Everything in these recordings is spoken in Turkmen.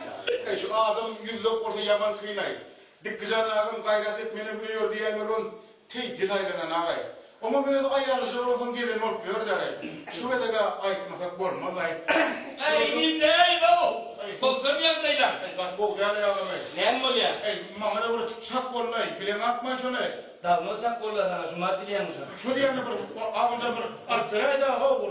Eý, şu adamym ýüzlek bolsa ýaman kyn-aý. Dikgijan agam gaýrat et, menem öýer diýýän welin, teý dil aýlananag-aý. Oňam özi aýallyja bolansoň gezen bolup ýör-dä-aý. Şu gezeg-ä aýtmasak bolmaz-aý. Eý, indi-eý, gowy bolsam ýagdaýlaň. Eý, gaty gowy däl-aý agam-aý. Näme bolýa? Eý, maňa-da bir çak boldy-aý. Bileňakm-aý şony? Dagno çak boldy-a saňa, Jumat bilýäňmi şony? Şo diýeni bir agza bir alyp beräý-dä, gowy.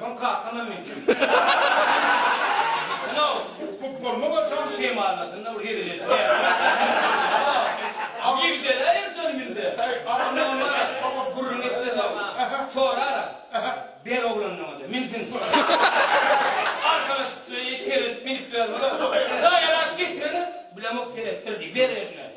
Soň kakama mündim. Mündiňow. Köp bolmaga çal. Şemalasynda bir gezip edip ýaşaýarsyň. Ýigdere erjel mündi. Oňa gürrüň etmez-ow. Sorar-a. Ber oglandan oda, münsün. Arkalaşyp, çöýe iterip, münüp ýörmez-ow. Daýalap getireni bilemok, seretdir diý. Ber özüne.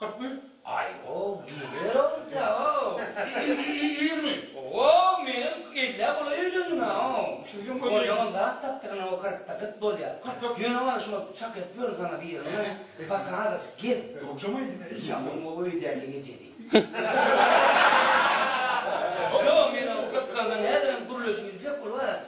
Kyrk bir. Aý-ow, neneler owlja-ow! Ýigrimi. Ow, menem ellä golaý öýlendim-ä-ow. Şeýdem bolýa. Oýlaman zat tapdygyna o kyrkda gyt bolýar. Kyrk dört. Ýöne wala şuňa çak edip ýörün saňa birini-ä. Barka azajyk gel. Ýogjam-a indi men. Ýaman o öýdäki ejedi. Ýok, men o gyzganda häzirem gürleşip biljek bolup-a,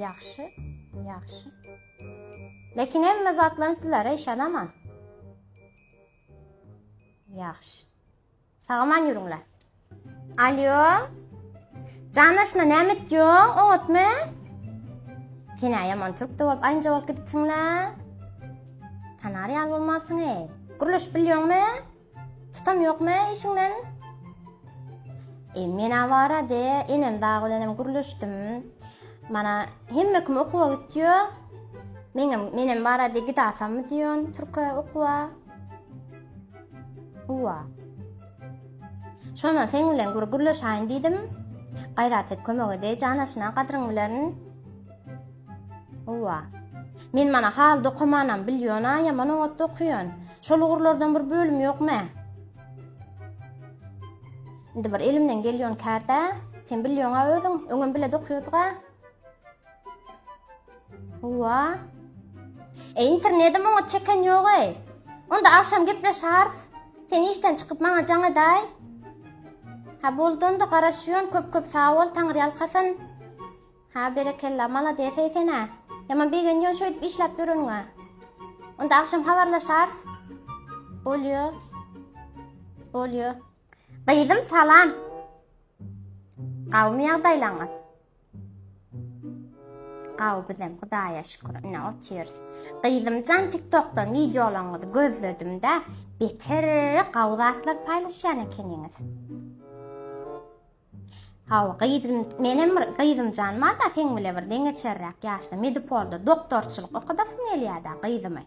Ýagşy, ýagşy. Lekin hemme zatlaryň sizlere yşanaman. Ýagşy. Sagaman ýürüňle. Alýo. Janaşna näme etýoň? Oňatmy? Senä ýaman türk de bolup, aýnja bolup gidipsiň-la. Tanar ýaly bolmansyň-eý. Gürleşip bilýoňmy? Tutam ýokmy işiňden? E, men-ä barady, enem dagy bilenem gürleşdim. Mana, hemme kim okuwa gitýo. Meňem, menem barady, gidasammy diýon türke okuwa. Uwa. Şonda seň bilen gür gürleşaýyn diýdim. Gaýrat et, kömek edäý, jan aşyna, gadryň bilerin. Howwa. Men mana haly dokamanam bilýona, ýaman oňatda okaýan. Şol ugurlardan bir bölüm ýokmä? Indi bir elimden gelýän kärde, sen bilýoňa özüň, öňem bile dokaýodyga. Howwa. E internedem oňat çeken ýog-eý. Onda agşam gepleşäris. Sen işden çykyp maňa jaň edäý. Ha boldy onda garaşýan, köp-köp sag bol, Taňyrýalkasyn. Hä berekella malades eý senä. Ýaman begenýän şöýdip işläp ýöreniňe. Onda agşam habarlaşarys. Bolýo. Bolýo. Gyzym salam. Gawmy ýagdaýlaňyz? Gawy bizem Hudaýa şükür ine otyrys. Gyzymjan TikTokdan wideolaryňyzy gözledim-de beter gawy zatlar paýlaşýan ekeniňiz. Hawa, gyzym, menem bir gyzym jan bar-da, seň bile bir deňeçerräk ýaşda Medipolda doktorçylyk okadasym gelýär-dä, gyzym-aý.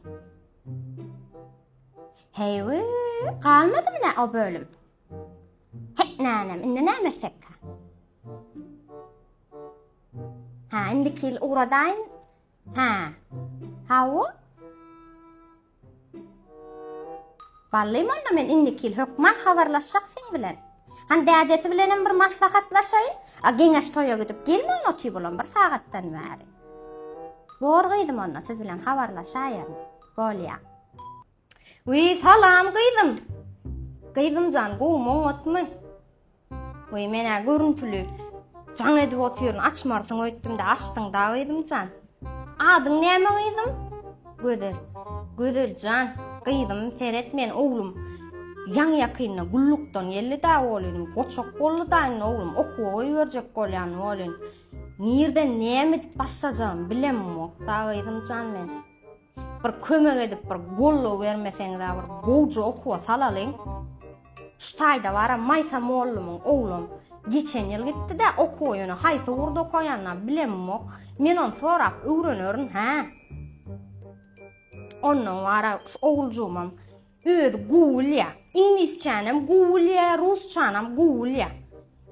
Heý-wi, galmadymy nä o bölüm? Heý, nänem, indi näme etsekkä? Hä, indiki ýyl ugradaýyn. Hä. Hawa. Bally molla men indikil hökman habarlaşjak seň bilen. Han dädesi bilenem bir maslahatlaşaýyn. A geňeş toýa gidip gelmän otyp olam bir sagatdan bäri. Bor gyzym onda siz bilen habarlaşaýaryn. Bolýa. Wiý salam gyzym. Gyzymjan gowumy oňatmy? Weý men-ä görüntüli jaň edip otyryn, açmarsyň öýtdüm-de, açdyň-da, gyzym jan. Adyň näme, gyzym? Gözel. Gözel jan, gyzym, seret, men oglum ýaňy-ýakynda gullukdan geldi-dä welin, goçak boldy-da indi oglum, okuwa goýberjek bolýan welin, nirden näme edip başlajagymy bilemok-da, gyzym jan, men. Bir kömek edip bir gollow bermeseňizä bir gowja okuwa salalyň. Şu taýda bara Maýsa mollumyň oglam geçen ýyl gitdi-de okuwa ýöne haýsy ugurda okaýanyna bilemok. Men ony sorap öwrenerin hä. Ondan bara şu oguljygymam özi gowy bilýär. Iňlisçänem gowy bilýär, rusçanam gowy bilýär.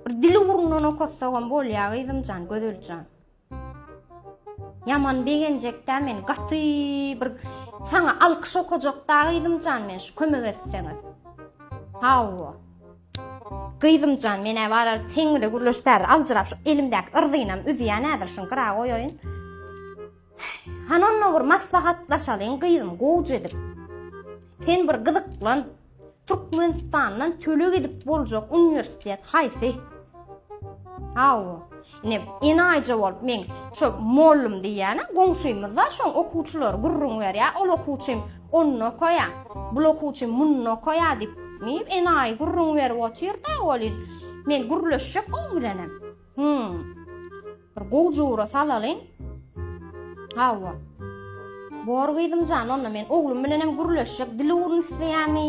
Bir dil ugrundan okatsagam bolýar gyzymjan, Gözeljan. Ýaman begenjekdä men gaty bir saňa alkyş okajakda gyzymjan men şu kömek etseňiz. Hawa. Gyzymjan menä barar seň bile gürleş bäri aljyrap şu elimdäki yrzynam üzýän ädir şuny gyra goýaýyn. Hanonda bir maslahatlaşalyň gyzym gowja edip. Sen bir gyzyklan. Türkmenistandan töleg edip boljak uniwersitet haýsy? Hawa. Ine, enaýyja bolup men şo mollum diýýän, goňşymyzda şoň okuwçylar gürrüň berýär, ol okuwçym onda okaýar, bul okuwçym munda okaýar diýip, diýip enaýy gürrüň berip otyr-da welin, men gürleşjek oň bilenem. Hum. Bir gowy jora salalyň. Hawa. Bor gyzymjan, onda men oglum bilen hem gürleşjek. Dil ugruny isleýärmi?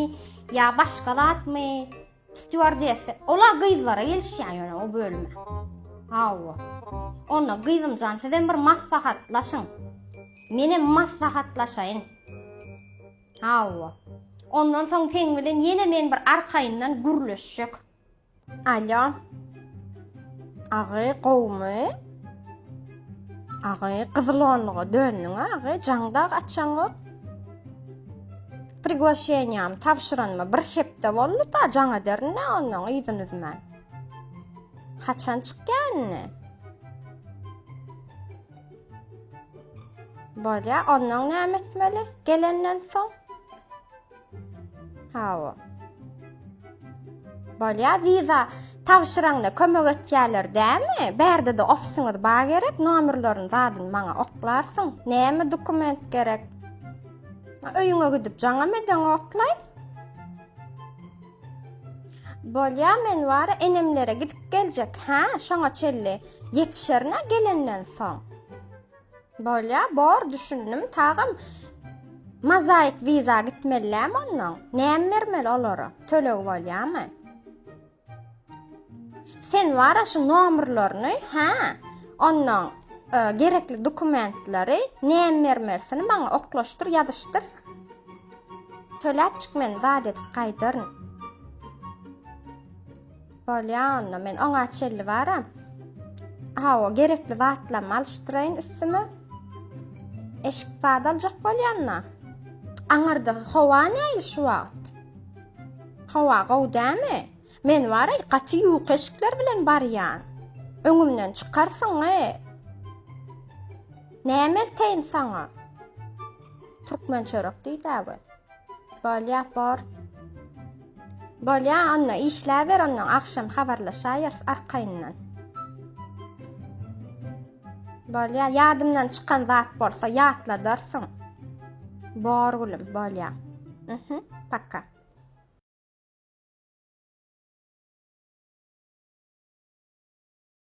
Ýa başga zatmy? Stewardessa. Ola gyzlara gelişýär ýöne o bölüme. Hawa. Onda gyzymjan, siz hem bir maslahatlaşyň. Men hem maslahatlaşaýyn. Hawa. Ondan soň seň bilen ýene men bir arkaýyndan gürleşjek. Alýo. Agy gowumy? Agy gyzylonluga döndüň agy, jaňdag açaňok. Priglaşeniýam tabşyranyma bir hepde boldy da jaňa dernä ondan yzyn üzmän. Haçan çykýa indi? Bolýa, ondan näme etmeli gelenden soň? Hawa. Bolýa wiza tabşyraňda kömek etýärler dämi? Bärde-de ofisyňyz ba gerek, nomerlerini zadyn maňa oklarsyň. Näme dokument gerek? Öýüňe gidip jaňam edeň oklay. Bolýa men bar enemlere gidip geljek. Hä, şoňa çelli ýetişerine gelenden soň. Bolya bor düşündim tagym Mazaik viza gitmellämi ondan näme bermeli olara tölegi bolyamy Sen wara şu nomrlaryny ha ondan e, gerekli dokumentleri näme bermelisini maňa oklaşdyr ýazyşdyr töläp çyk men zat edip gaýdaryn Bolýa onda men oňa çelli baram. Hawa, gerekli zatlarymy alyşdyraýyn üstüme. Eşik zat aljak bolýanda. Aňyrda howa näýli şu wagt? Howa gowy dämi? Men wara gaty ýuka eşikler bilen barýan. Öňümden çykarsyň, e. Näme elteýin saňa? Türkmen çörek diýdä bu. Bolýa, bor. Bolýa, onda işläber, ondan agşam habarlaşaýarys arkaýyndan. Bolýa, ýadymdan çykan zat bolsa ýatladarsyň. Bor gülüm, bolýa. Mhm, paka.